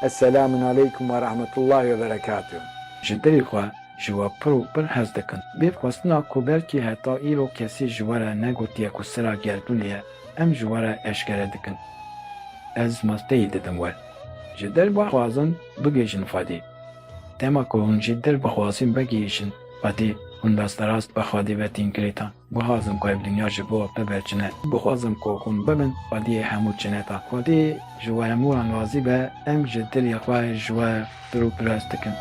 Eselamun aleykum ve rahmetullahi ve berekatuh. Ji dilê xwe ji we pir û pir hez dikim. Bê xwestina ku belkî heta îro kesî ji we re negotiye ku sira gerdûnê ye, em ji we re eşkere dikin. Ez masteyî didim we. Ji dil bixwazin bigihîjin Xwedê. Dema ku hûn ji dil bixwazin vegihîjin Xwedê, hûn rasterast bi Xwedê ve tên girêdan. Guhazim ku ev dinya ji bo bibe çine. Guhazim ku hûn bibin xwediyê hemû çineta. Xwedî ji we hemû an razî be, em ji dilê xwe ji we pir û pirs dikin.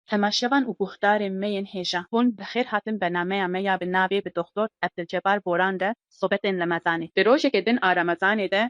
Temaşevan û guhdarên me yên hêja, hûn bi xêr hatin bernameya me ya bi navê Bi Doxtor Ebdilcebar Boran de sobetên Remezanê. Di rojekê din a Remezanê de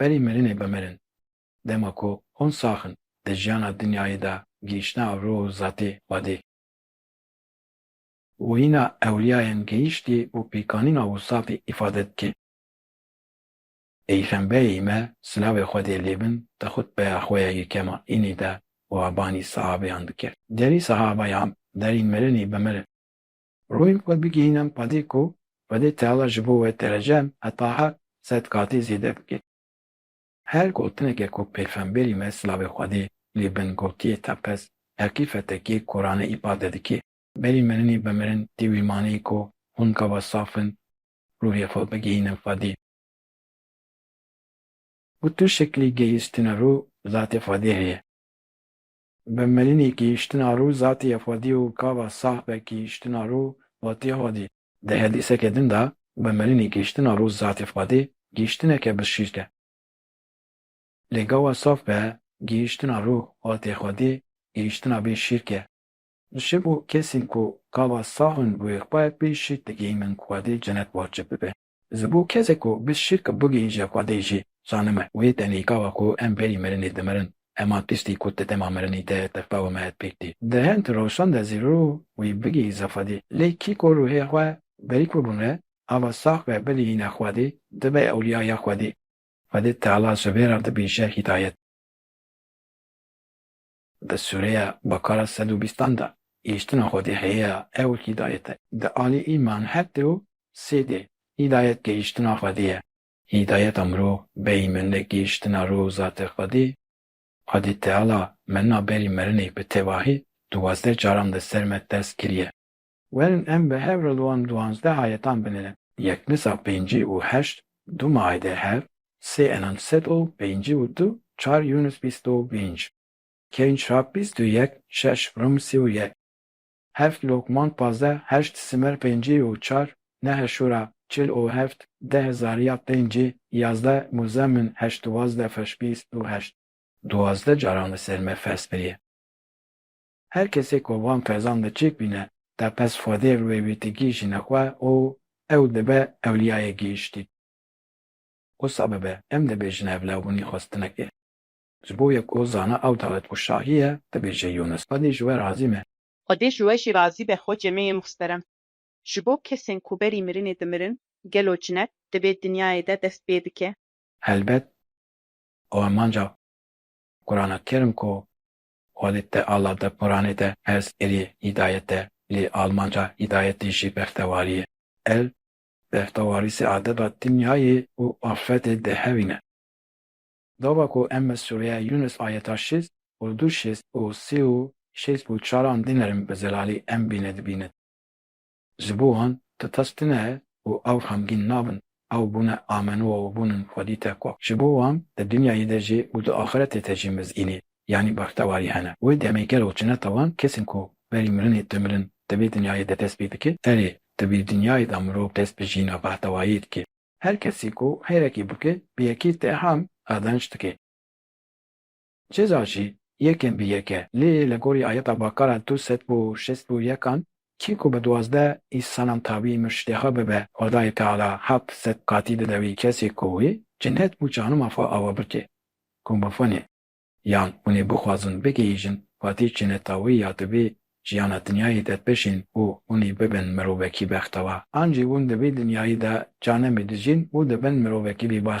Berî mirinê bimirin. Dema ku hûn sax in, di jiyana dinyayê de gihîştine rûh û zatê Xwedê, wîna ewliyayên gihîştî û pêkanîna wisatê îfade dike, peyxembeyê me silavê Xwedê lê bin di xutbeya xwe ya yekema înî de wabanî sahabeyan dikir. Derî sahabeyan berî mirinê bimirin. Royên xwe bigihînin qadê ku Xwedê Teala ji bo we derecem heta heqt sed qatî zêde bike. Her gotineke ku pêxemberî me silavê Xwedê lê bin gotiye teqez heqîqetekê Kurane îpade dike. Berî mirinê bi mirin tê wî maneyê ku hûn gava saf in ruhê xwe bigihînin Xwedê. Ku tu şeklî gehîştina ruh bi zatê Xwedê heye. Bi Melinî kihiştina rû zatî ya Fadî û kava Sah ve kihiştina rû vatiye Hadî. Di hedîseke din de bi Melinî kihiştina rû zatî Fadî gihiştineke bi şîrk e. Lê gava Saf ve gihiştina rû vatiye Hadî gihiştina bê şîrk e. Ji bo kesên ku kava Sah in wê xwe bê şîrk digihînin Hadî cenet wacib bibe. Ji bo kesê ku bi şirk bigihîje xwedê jî zanime wê tenêka wa ku em berî mirinê dimirin, hema tiştî ku ti dema mirinî te tirka û mehet pêk tî. Di hend roşan de zî rû wî bigihîze xwedê. Lê kî ku rûhê xwe berî kurbûn re ava sax ve bigihîne xwedê, dibe ewlîya ya xwedê. Xwedê Teala ji vê re dibîje hîdayet. Di sûreya Bekara sed û bîstan de gihîştina Xwedê hêya ew hîdayet e. Di alî îman heft û sê de hîdayet gihîştina Xwedê ye. Hîdayeta mirov beyî mende gihîştina rû û zatê Xwedê. Xwedê Teala me na berî merinê bi tevahî duwazdeh caran di ser me ters kiriye. Werin em bi hev re li wan duwazdeh ayetan binêrin. Yekmisa pêncî û heşt du maide hev, sê Enan sed û pêncî û du, çar Yûnus bîst û pênc, Kevn Çirap bîst û yek, şeş Rum sî û yek, heft Lokman pazdeh, heşt Simer pêncî û çar, Nehl Şûra çil û heft, deh Zarîyat pêncî, yazdeh Muzemmin heşt duwazdeh Fers bîst û heşt. Duwazdeh caran li ser me fers biriye. Her kesê ku van fezan de çêk bîne, tepez Xwedê rûyê wî digihîjîne xwe û ew dibe ewliyayê gihîştî. Wisa bibe, em dibêjin ev lewbûnî xwestinek e. Ji bo yek ku zana ew dewlet û şahî ye, dibêje Yûnis, Xwedê ji we razî me. Xwedê ji we jî razî be xwecê me yê muhterem. Ji bo kesên ku berî mirinê dimirin, gelo cinet di vê dinyayê de dest pê bike? Helbet, ew emanca Qurana kerm ku Holê te ala te Quranê te ez êrî hîdayet e lê almanca hîdayetê jî bextewarî ye. Ev bextewarî sê adeba dinyayê û axretê di hevîn e. Gava ku em bi sûreya Yûnus ayeta şêst û du şêst û sê û şêst û çar an dinêrin bi zelalî em bîne dibînin. Ji bo wan ti tas tune ye û ew xemgîn nabin, ew bûne amenûa û bûn in xwedî te ku ji bo wan di dinyayê de jî û di axiretê de jî mizînî yanî bextewarî hene. Wê demê gelo çineta wan kesên ku berî mirinê ti mirin di vê dinyayê de dest pê dike, erê di vê dinyayê de mirov dest bi jîna bextewariyê dike. Her kesî ku xêrekê bike bi yekê te ham qezenç dike. Ceza jî yekên bi yek e. Lê li gorî ayeta Bakara du sed û şêst û yek an, kî ku bi duwazdeh îsanan tavî murşidê xwe bibe, Xwedayê Teala heft sed qatî dide wî kesê ku wî cinnet û canûma xwe awe bike. Ku mafan ê. Yan hûn ê bixwazin bigihîjin qatî cinneta wî ya di vî jiyana dinyayê de bejîn û hûn ê bibin mirovekî bextewar. An jî hûn di vî dinyayê de canemê dijîn û dibin mirovekî bêbax.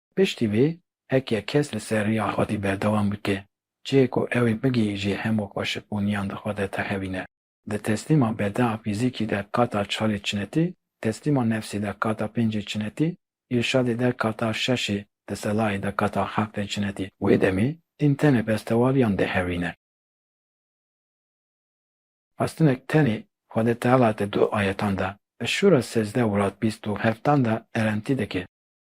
Piştî vê, heke kes li ser riya xwedî berdewam bike, cihê ku ew ê bigihîjê hemû xweşikbûniyan di xwe de texewîne. Di teslîma bedaa fîzîkî de qata çarê çinetî, teslîma nefsî de qata pêncê çinetî, îrşadê de qata şeşê, teselayê de qata heftê çinetî. Wê demê, din tenê bestewariyan dihewîne. Xwestinek tenê Xwedê Teala di du ayetan de, Eş-Şûra sezdeh û rad bîst û heft dan de erentî dike.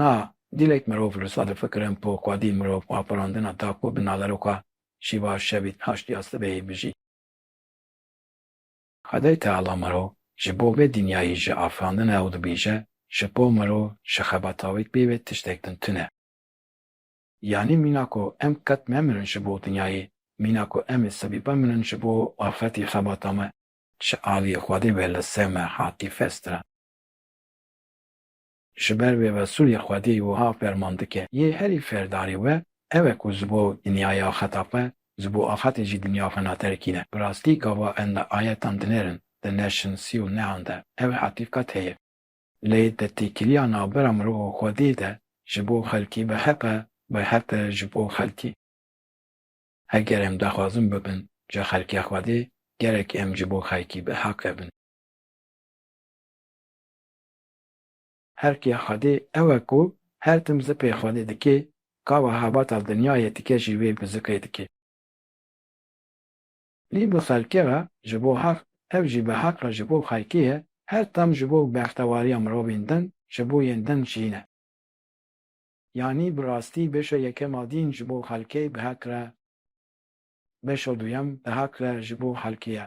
Na, dîlek mirov li sed fikirin po ka dîl mirov xwe xurandina da ku bi naveroka şîva şevî naştiya sibehê bijî. Xwedayê Teala mirov ji bo vê dinyayê jî afirandine û dibêje, ji bo mirov ji xebatawêk bêvê tiştek din tune. Yanî mîna ku em qet memirin ji bo dinyayê, mîna ku em ê sibî bimirin ji bo axretê xebata me. Ji aliyê Xwedê ve li ser me hatî festkirin. Ji ber vê Resûlê Xwedî wiha ferman dike, Yê herî ferdarê we ew e ku ji bo dinyayê axeta xwe, ji bo axetê jî dinya xwe naterikîne. Bi rastî gava em li ayetan dinerin, di ne şinsî û nehan de, ew e heqîqet heye. Lê di têkiliya navbera mirov û Xwedê de ji bo xelkî bi heq e, bi heq e ji bo xelkî. Heger em daxwazin bibin ji xelkê Xwedê, gerek em ji bo xelkî bi heq e bin. Erkê Xwedê ew e ku her tim zikê Xwedê dikê, kawa hebata dinyayê dike jî wê bi zikê dikê. Lê bi xelkê re ji bo heq, ev jî bi heq re ji bo xelkê ye, her tim ji bo bextewariya mirovên din, ji bo yên din jî ne. Yanî bi rastî beşa yekem a dîn ji bo xelkê bi heq re, beşa duyem bi heq re ji bo xelkê ye.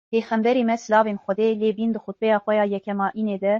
Pêxemberê me silavên Xwedê lê bîn di xutbeya xwe ya yekema înê de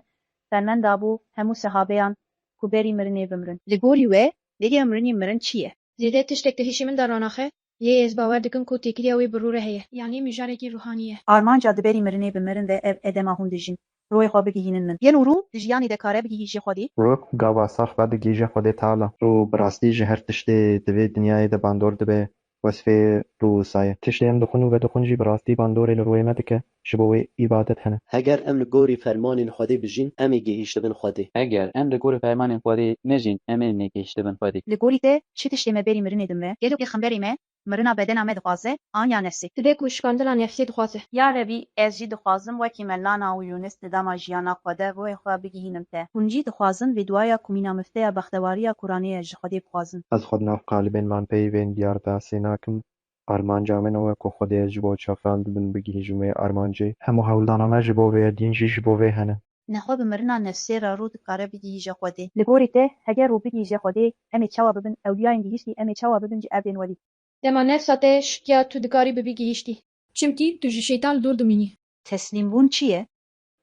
ferman dabû hemû sehabeyan ku berî mirinê bimirin. Li gorî we bêriya mirinê mirin çi ye? Zêde tiştek di hişê min de ranaxe, lê ez bawer dikim ku têkiliya wê bi rû re heye. Yanî mijarekî rûhanî ye. Armanca di berî mirinê bimirin de ev e dema hûn dijîn. Royê xwe bigihînin min. Yên û rû di jiyanê de kare bigihî jê Xwedê. Rok û gava sax ve bigihî jê Xwedê Teala. Rû bi rastî ji her tiştê di vê dinyayê de bandor dibe, wesfê rû wisa ye. Tiştê em dixwin û vedixwin jî bi rastî bandorê li rûyê me dike, ji bo wê îbadet hene. Heger em li gorî fermanên Xwedê bijîn, em ê gihîştibin Xwedê. Heger em li gorî fermanên Xwedê nejîn, em ê negihîştibin Xwedê. Li gorî te çi tiştê me berî mirinê din ve? Gelo pêxemberê me Mirina bedena me dixwaze an ya nefsê. Ti be ku şikandina nefsê dixwaze. Ya Rebî ez jî dixwazim wekî me Lana û Yûnis di dema jiyana xwe de ruhê xwe bigihînim te. Hûn jî dixwazin vê duaya ku mîna mifteya bextewariya Kur'anê ye ji Xwedê bixwazin. Ez xwe di nav qalibên man peyivên diyar de sê nakim. Armanca min ew e ku Xwedê ez ji bo çavran dibin bigihîjim wê armancê. Hemû hewldana me ji bo vê din jî ji bo vê hene. Nexwe bi mirina nefsê re rû dikare bigihîje Xwedê. Li gorî te heger rû bigihîje Xwedê, em ê çawa bibin? Ewliyayên gihîştî em ê çawa bibin ji erdên welî? Dema nefsa te şikiya tu dikarî bibî gihîştî. Çimkî tu ji şeytan li dûr dimînî. Teslîmbûn çi ye?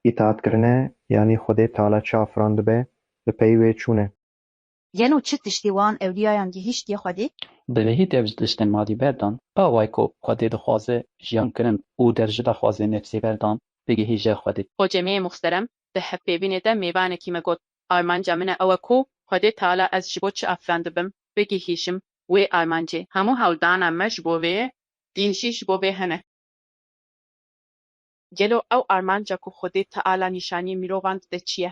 Îtaatkirine yanî Xwedê Teala çi afirandibe, bi peyî wê çûn e. Gelo çi tiştî wan ewlîyayan gihîştiye Xwedê? Bi vehî dev ji tiştên madî berdan, awayî ku Xwedê dixwaze jiyan kirin û der ji daxwazên nefsê berdan bigihîje Xwedê. Hocemê muxterem di hevpêvînê de mêvanekî me got, Armanca min e ew e ku Xwedê Teala ez ji bo çi afirandibim, bigihîjim wê armancê. Hemû hewldana me ji bo vê dîn jî ji bo vê hene. Gelo ew armanca ku Xwedê Teala nîşanî mirovan dide çi ye?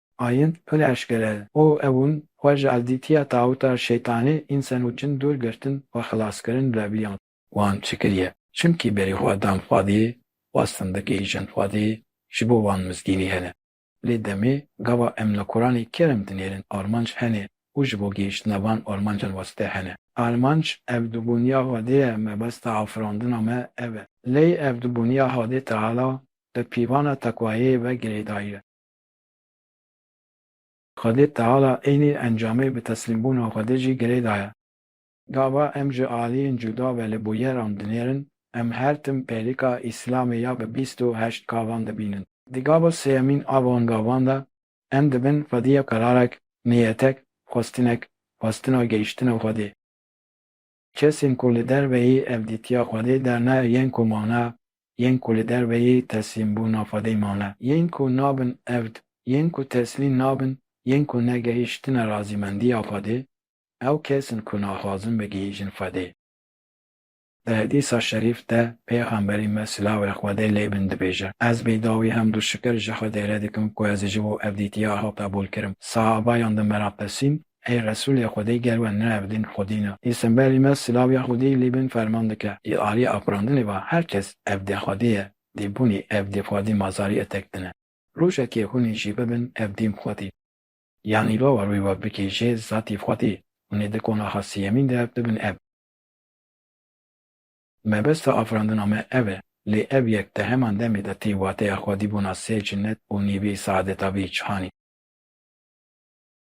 Ayin pil eşkere o ewun xwe ji evdîtiya tawuta şeytanê însen û cin dûr girtin û xilaskirin revliyan. Wan çi kiriye? Çimkî berî xwe dan xwedê, xwest findikê îjin xwedê, ji bo wan mizgînî hene. Lê demê gava em li Kuranê kerem dinêrin armanc hene û ji bo gihiştina van armancan wesite hene. Armanc ev dubûniya xwedê ye, mebesta afirandina me ev e. Lê ev dubûniya Hadê Teala bi pîvana teqwayê ve girêdayî ye. Xwedê teala eynî encamê bi teslîmbûna Xwedê jî girê daye. Gava em ji aliyên cuda ve li bûyeran dinêrin, em her tim pêlika Îslamê ya bi bîst û heşt gavan dibînin. Di gava sêyemîn a van gavan de em dibin xwediya kararek, niyetek, xwestinek, xwestina gehîştina Xwedê. Kesên ku li derveyî ev dîtiya Xwedê derne yên ku mane, yên ku li derveyî teslîmbûna Xwedê mane, yên ku nabin evd, yên ku teslîm nabin, yên ku negehîştine razîmendiya Xwedê, ew kes in ku naxwazin bigihîjin Xwedê. Di hedîsa şerîf de Pêxemberî me silavê Xwedê lê bin dibêje, Ez bê dawî hemd û şikir ji Xwedê re dikim ku ez ji bo ev dîtiya hata bolkirim. Sahabayan di meraqesîn Ey Resûlê Xwedê ger we nerevdîn Xwedî ne. Î semberî me silav ya Xwedî lî bin ferman dike. Î aliyê afirandinê va her kes evdê Xwedê ye, dê bûnî evdê Xwedî mazarî etek dine. Rojekê hûnî jî bibin evdîn Xwedî. Yanî lova rûyê we bikê jê zatî Xwedî, hûnê di konaxa siyemîn de bibin ev. Mebesta afirandina me ev e. Lê ev yek di heman demê de tî wateya Xwedî bûna sê cinnet û nîvî saadeta bî cihanî.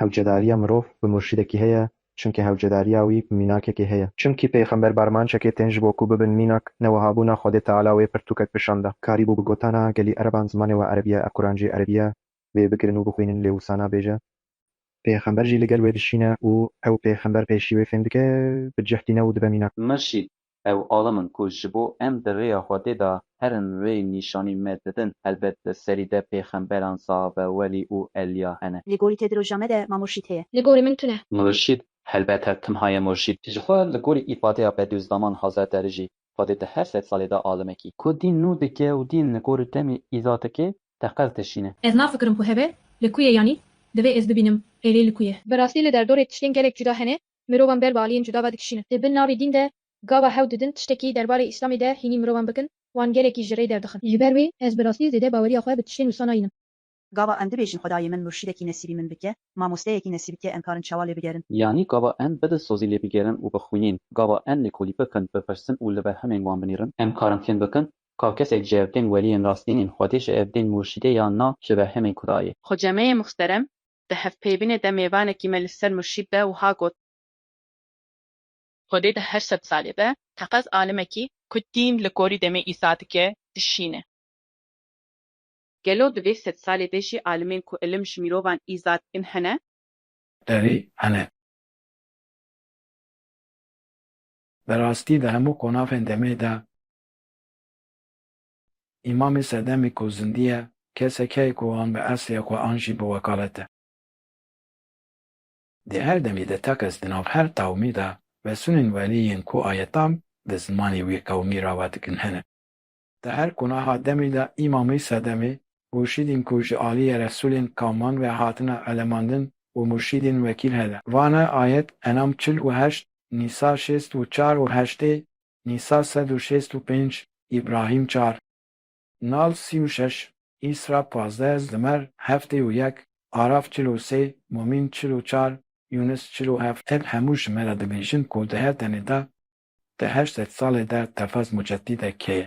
Hewcedariya mirov bi murşîdekî heye, çimkî hewcedariya wî bi mînakekê heye. Çimkî pêxember barmançekê tên ji bo ku bibin mînak, ne wiha bû na Xwedê Teala wê pirtûkek bişan da. Karî bû bi gotana gelî ereban zimanê we erebî ye, ev Quran jî erebî ye, wê bigirin û bixwînin lê wisa nabêje. Pêxember jî li gel wê dişîne û ew pêxember pêşî wê fêm dike, bi cih tîne û dibe mînak. Mirşîd, Ew alim in ku ji bo em di rêya Xwedê de herin rê nîşanî me didin. Helbet li serî de pêxemberan sahabe, welî û elîya hene. Li gorî te di roja me de ma murşîd heye. Li gorî min tu ne. Murşîd helbet her tim haye murşîd. Jixwe li gorî îfadeya Bedûzdaman Hazar de rijî Xwedê di her sed salê de alimekî. Ku dîn nû dike û dîn li gorî demê îza dike teqez dişîne. Ez nafikirim ku heve li ku ye yanî divê ez bibînim êlî li ku ye. Bi rastî li derdorê tiştên gelek cuda hene Mirovan ber bi aliyên cuda ve dikişînin. Di bin navê dîn de gava hewl didin tiştekî derbarê Îslamê de hînî mirovan bikin, wan gelekî ji rê derdixin. Ji ber wê ez bi rastî zêde baweriya xwe bi tiştên wisa nayînim. Gava em dibêjin Xwedayê min murşîdekî nesîbî min bike, mamosteyekî nesîb bike em karin çawa lê bigerin? Yanî gava em bi dilsozî lê bigerin û bixwînin? Gava em lêkolî bikin, bipirsin û li berhemên wan binêrin? Em karin fêm bikin ka kesek ji evdên weliyên rastîn ên Xwedê ji evdên murşîdê yan na ji berhemên Xwedayê? Xwecemeyê muxterem, Di hevpeyvînê de mêvanekî me li ser murşîd de wiha got. Xwedê di her sed salê de teqez alimekî ku dîn li gorî demê Îsa dike, dişîne. Gelo di vê sed salê de jî alimên ku ilim ji mîrovan îza dikin hene? Erê, hene. Bi rastî di hemû qonavên demê de. Îmamê sedemî ku zindî ye, kesek heye ku an bi eslê xwe an jî bi wekalet e. Di her demê de tekez di nav her tawmî de vesunên welî yên ku ayetan bi zimanê wî qewmî rava dikin hene. Di her qunaha demî de îmamê sedemî murşîdên ku ji aliyê resulên qewman ve hatine elemandin û murşîdên wekîl hene. Vane ayet Enam çil û heşt, Nîsa şêst û çar û heştê Nîsa sed û şêst û pênc, Îbrahîm çar, Nal sî û şeş, Îsra pazdeh, Zimer heftê û yek, Araf çil û sê, Mumîn çil û çar, Yûnis çil û heft. Ev hemû ji me re dibêjin ku di her demê de di heşt sed salê de Tefez Muceddîde kê ye.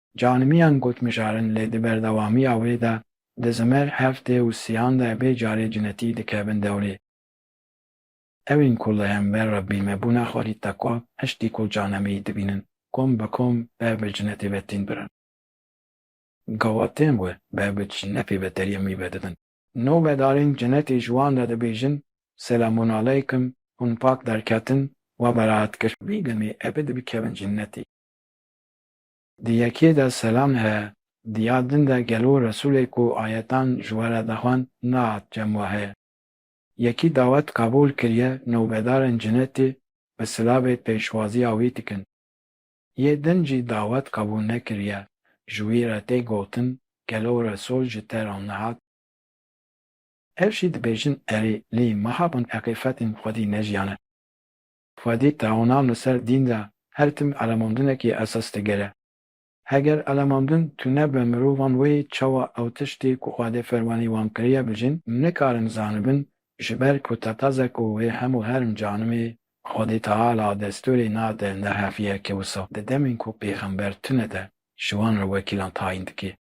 Canimiyan got mijarin lê di berdewamiya wê de di Zimer, Heftê û Siyan de vê carê cinetî dikevin dewrê. Ew ên ku li hember Rebbî me bûne xwe lî tekwa heştî ku Canemî dibînin kom bi kom ber bi cinetê ve tên birin. Gawa tên we ber bi cinetê ve deriyê mî ve didin. Novedarên cinetê ji wan re dibêjin, Selamunaleykum, hûn pak derketin, we beraet kir. Vî demê ebe dibikevin cinetê. Di yekê de selam heye. Di ya din de gelo Resûlê ku ayetan ji we re dixwend nehat cem we heye. Yekî dawet qebûl kiriye nûbedarên cinetê bi silavê pêşwaziya wî dikin. Yê din jî dawet qebûl nekiriye ji wî re tê gotin gelo Resûl ji te re nehat? Ev jî dibêjin erê lê me habûn eqîfetên xwedî nejiyane. Xwedî tawanan li ser dîn de her tim elemandinekî esas digere. Heger elemandin tune be mirovan wê çawa ew tiştê ku Xwedê fermanî wan kiriye bijîn nikarin zanibin ji ber ku tetaze ku wê hemû herm canimê Xwedî Teala destûrê nade ne hevî ye ke wisa di demên ku pêxember tune de ji wan re wekîlan tayîn dike.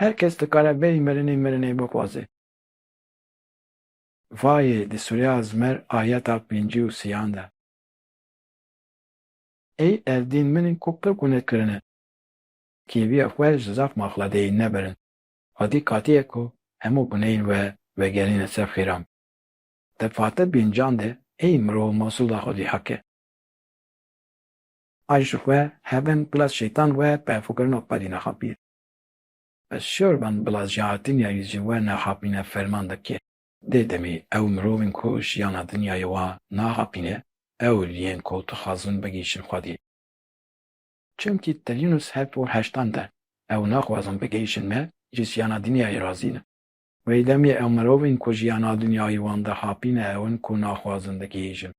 Her kes dikare berî mirinê mirinê bixwaze. Vayê di Sûreya Zmer ayeta pêncî û sîyan de. Ey erdên min in ku qirk û ne kirine. Kêviya xwe ji zaf maxladeyî nebirin. Xwedî katîye ku hemû bineyên we vegerîne ser xêran. Di fate pêncan de ey mirov masûla xwedî heke. Ay ji xwe heven bila şeytan we pehfûkirina xwedî nexapî. Ez şor ben bila jahatînya yî ji we nexapîne ferman dike. Dê demî ew mirovên ku jiyana dinyayê wa naxapîne ewl yên ku dixwazin bigihîşin xwedî. Çimkî Telinus heft û heştan de ew naxwazin bigihîşin me ji jiyana dinyayê razî ne. Wey demî ew mirovên ku jiyana dinyayê wan dixapîne ewin ku naxwazin digihîşin.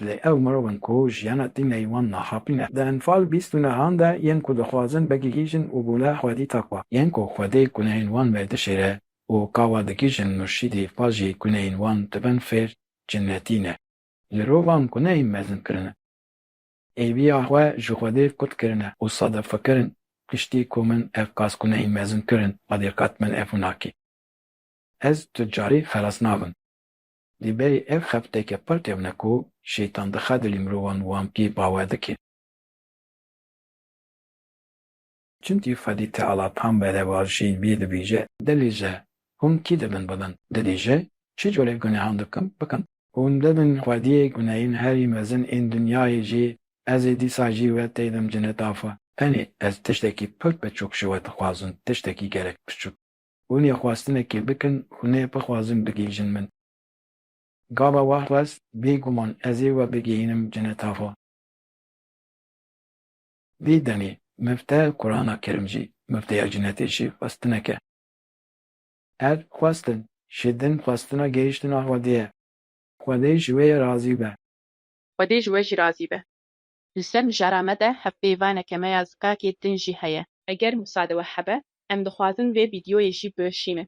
Lê ew mirov in ku jiyana tîn leyî wan naxapîn e. Di Enfal bîst û nehan de yên ku dixwazin bigihîjin û bûne xwedî takwa. Yên ku xwedî guneyên wan vedişêre û ka wa digihîjin murşîdî fa jî guneyên wan dibin fêr cinnetî ne. Li rovan guneyên mezin kirine. Êbiya xwe ji xwedê kut kirine û sade fikirin piştî ku min ev qas guneyên mezin kirin xwedê qet min ev nakê. Ez tu carî xelas nabim. Lê berî ev xefteke pir kevne ku Şeytan dixe dilê mirovan wan pê bawer dike. Çimkî Xwedî Teala tam berevajî bî dibêje, Dibêje, hûn kî dibin bibin? Dibêje, çi corê gunehan dikim, bikim? Hûn dibin xwediyê guneyên herî mezin ên dinyayê jî, Ez ê dîsa jî we têdim cinetafa. Tenê ez tiştekî pir biçûk ji we dixwazim, tiştekî gelek biçûk. Hûn ê xwestinekê bikin û nê bixwazin bigihîjin min. Gava wext rast, bêguman ez ê we bigihînim cineta xwe. Vî demê Mifte Kurana Kerim jî mifteya cinetê jî xwestineke. Ev xwestin ji din xwestina gihîştina Xwedê ye. Xwedê ji wê re razî be. Xwedê ji we jî razî be. Li ser mijara me de hevpeyvaneke me ya zikakê din jî heye. Eger musade we hebe, em dixwazin vê vîdyoyê jî bişînin.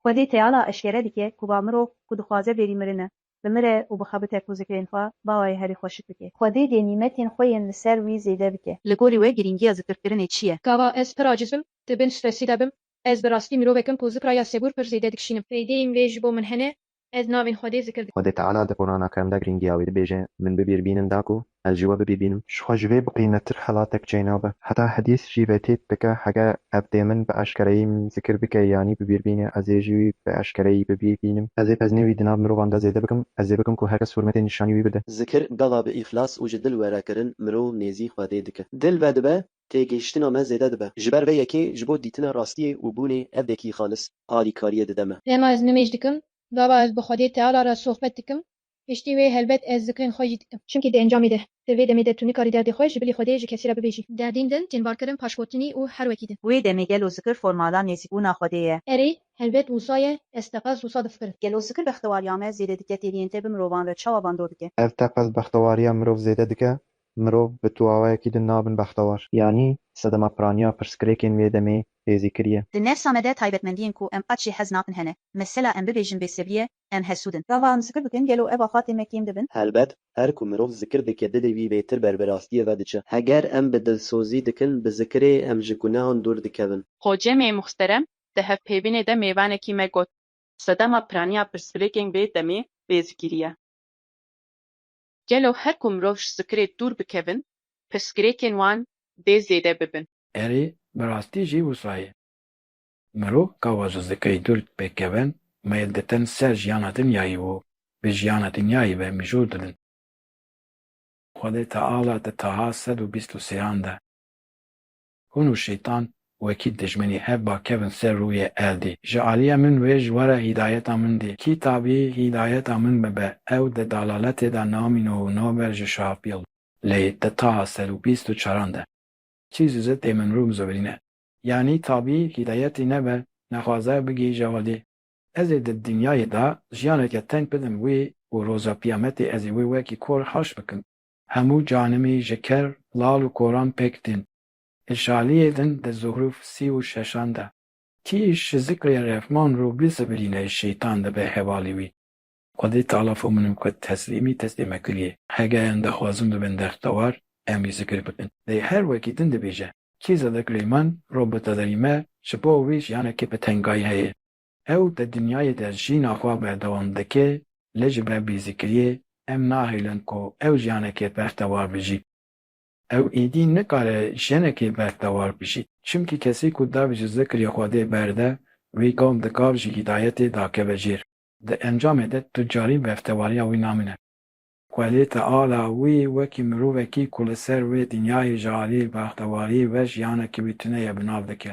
Xwedî teyala eşkere dike ku ba mirov ku dixwaze bêrî mirin e, bimire û bixebite ku zikrên xwe ba wê herî xweşik bike. Xwedî dê nîmetên xwe yên li ser wî zêde bike. Li gorî we girîngiya zikirkirinê çi ye? Gava ez pir acîz bim, di bin stresî de bim. Ez bi rastî mirovek im ku zikra ya sebûr pir zêde dikişînim. Fêdeyên wê ji bo min hene, Ez navên Xwedê zikir dikim. Xwedê Teala di Qurana Kerem de girîngiya wê dibêje, Min bibîrbînin da ku ez ji we bibîrbînim. Ji xwe ji vê biqîmettir xelatek çê nabe. Heta hedîs jî vê têk dike, Heger ev dê min bi eşkereyî min zikir bike yanî bibîrbîne, ez ê jî wî bi eşkereyî bibîrbînim. Ez ê peznê wî di nav mirovan de zêde bikim, ez ê bikim ku her kes hurmetê nîşanî wî bide. Zikir bela bi îxlas û ji dil we re kirin mirov nêzî Xwedê dike. Dil vedibe Têgihiştina me zêde dibe. Ji ber vê yekê ji bo dîtina rastiyê û bûnê evdekî xalis alîkariyê dide me. Dema ez nimêj dikim, gava ez bi Xwedê Teala re sohbet dikim, piştî wê helbet ez zikrên xwe jî dikim. Çimkî di encamê de, di vê demê de tu nikarî derdê xwe ji bilî Xwedê ji kesî re bibêjî. Derdên din tên barkirin paşkotinî û her wekî din. Wê demê gelo zikir formala nêzîkbûna Xwedê ye? Erê, helbet wisa ye, ez teqez wisa difikirim. Gelo zikir bextewariya me zêde dike têriyên te bi mirovan re çawa bandor dike? Ev teqez bextewariya mirov zêde dike, Mirov bi tu awayekî din nabin bextewar. Yanî sedema piraniya pirsgirêkên wê demê tê zîkirîye. Di nefsa me de taybetmendiyên ku em qet jê hez nakin hene. Mesela em bibêjin bêsebrî ye, em hesûd in. Gava em zikir bikin gelo ev afatên me kêm dibin? Helbet, her ku mirov zikir dike dilê wî lêtir ber bi rastiyê ve diçe. Heger em bi dilsozî dikin, bi zikirê em ji gunehan dûr dikevin. Xocemê Muxterem di hevpêvînê de mêvanekî me got. Sedema piraniya pirsgirêkên wê demê tê zikirîye. Gelo her ku mirov ji zikirê dûr bikevin, pirsgirêkên wan dê zêde bibin? Erê, bi rastî jî wisa ye. Mirov ka wa ji zikirê dûr pêk kevin, meyl dikin ser jiyana dinyayî û bi jiyana dinyayî ve mijûl dibin. Xwedê Teala di taha sed û bîst û sêyan de. Hûn û Şeytan wekî dijminî hev ba kevin ser rûyê erdî. Ji alîya min wê ji were hîdayeta min dî. Kî tabî hîdayeta min bibe, ew di dalaletê de namîno û naber ji şafîl. Lê di taha sed û bîst û çaran de. Çî ji zitê min rû bizowîrîne. Yanî tabî hîdayetî nebe, nexwaze bigî jewadî. Ez ê di dinyayê de jiyaneke teng bidim wî û roja Qîyametê ez ê wê wekî kor haş bikim. Hemû canimî ji ker, lal û koran pêk tîn. Li şaliyê din di zuhruf sî û şeşan de. Kî ji zikrê Refman rû bizibilîne şeytan dibe hevalî wî. Xwedê tala fo min û kut teslîmî teslîme kuliyê. Hegeyan dixwazin bibin dextewar em wî zikir bikin. Lê her wekî din dibêje, Kî zikrê min rû bitedirîme ji bo wî jiyanekî bi tengayî heye. Ew di dinyayê de jîna xwe berdewam dike, lê ji ber bêzikiriyê em nahêlin ku ew jiyanekê bextewar bijî. Ew êdî nikare jinekê bextewar bijî. Çimkî kesî ku dev ji zikrê Xwedê berde, wî gom dikar ji hîdayetê dakeve jêr. Di encamê de tu carî beftewariya wî namîne. Xwedê Teala wî wekî mirovekî ku li ser wê dinyayê ji aliyê bextewariyê ve jiyanekî wî tune ye bi nav dike.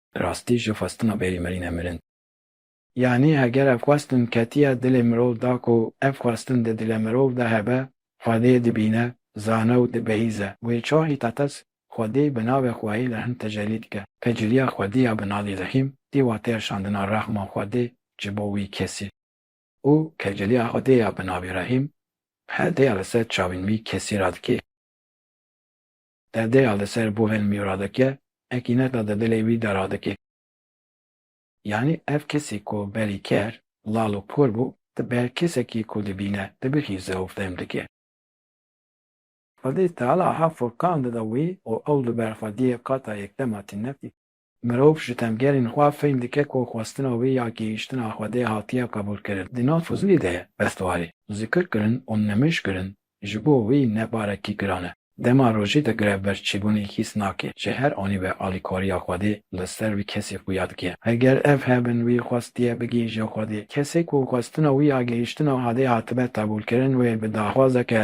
Rastî ji xwestina bêrî mirîne mirin. Yanî heger ev xwestin ketiya dilê mirov da ku ev xwestin di dilê mirov de hebe, Xwedê dibîne, zane û dibihîze. Wê çawa Hîtates Xwedê bi navê xweyê li hin tecellî dike? Tecellîya Xwedê ya bi navê Rehîm tê wateya şandina rehma Xwedê ji bo wî kesî. Û tecellîya Xwedê ya bi navê Rehîm, herdeya li ser çavên wî kesî radikê. Derdeya li ser Boven Miura dike, ekîneta di dilê wî de radike. Yanî ev kesî ku berî ker, lal û por bû, di ber kesekî ku dibîne, dibixîze û fehm dike. Xwedî Teala ha Furkan dide wî û ew li ber xwediyê qata yekdema tîne tî. Mirov ji tevgerên xwe fehm dike ku xwestina wê ya gihîştina Xwedê hatiye qebûlkirin. Di nav Fuzilî de restwarî, zikirkirin û nimijkirin ji bo wî ne barekî giran e. Dema rojê de grevberçîbûnê hîs nake, ji her anî ve alîkariya Xwedê li ser wî kesî xuya dike. Heger ev hebin wî xwestiye bigihîje Xwedê, kesê ku xwestina wî ya gihîştina Xwedê hatibe qebûlkirin wê bi daxwazeke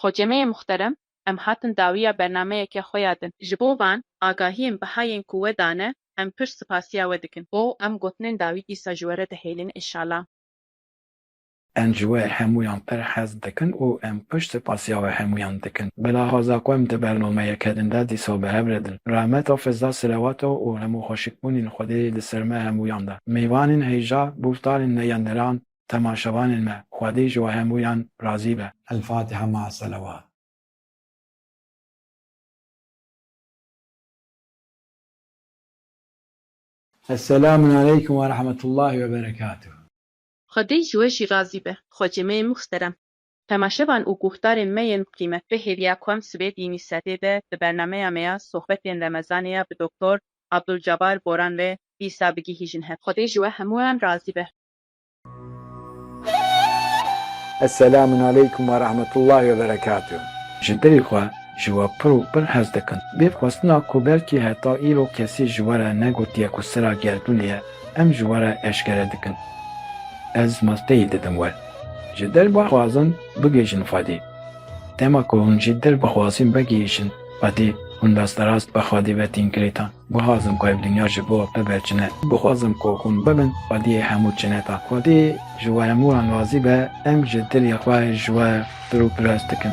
Xocemeyê muxterem, em hatin dawiya bernameyeke xwe ya din. Ji bo van agahiyên biha yên ku we dane, em pir sipasiya we dikin. Bo em gotinên dawî dîsa ji we re dihêlin inşala. Em ji we hemûyan pir hez dikin û em pir sipasiya we hemûyan dikin. Bi laxaza ku em di bernameyeke din de dîsa bi hev re din. Rehmeta Fizda Silewata û hemû xweşikbûnên Xwedê li ser me hemûyan de. Mêvanên hêja, gûftarên neyendiran, temaşevanên me, Xwedê ji we hemûyan razî be. Elfatiha ma selewat. Esselamun aleykum ve rahmetullahi ve berekatuhu. Xwedê ji we jî razî be xwecê me yên muhterem. Temaşevan û guhdarên me yên qîmet. Vê hêviya ku em sibê di nîv sedê de di bernameya me ya Sohbetên Remezanê ya bi Doktor Abdulcabar Boran ve dîsa bigihîjin hev. Xwedê ji we hemûyan razî be. Eselamun aleykum ve rahmetullahi ve berekatuh. Ji dilê xwe ji we pir û pir hez dikim. Bê xwestina ku belkî heta îro kesî ji we re negotiye ku sira gerdûnê ye, em ji we re eşkere dikin. Ez masteyî didim we. Ji dil bixwazin bigihîjin Xwedê. Dema ku hûn ji dil bixwazin vegihîjin Xwedê, hûn rasterast bi Xwedê ve tên girêdan. Guhazim ku ev dinya ji bo bibe çine. Guhazim ku hûn bibin xwediyê hemû çine tan. Xwedî ji we hemû an razî be, em ji dilê xwe ji we pir û pirs dikin.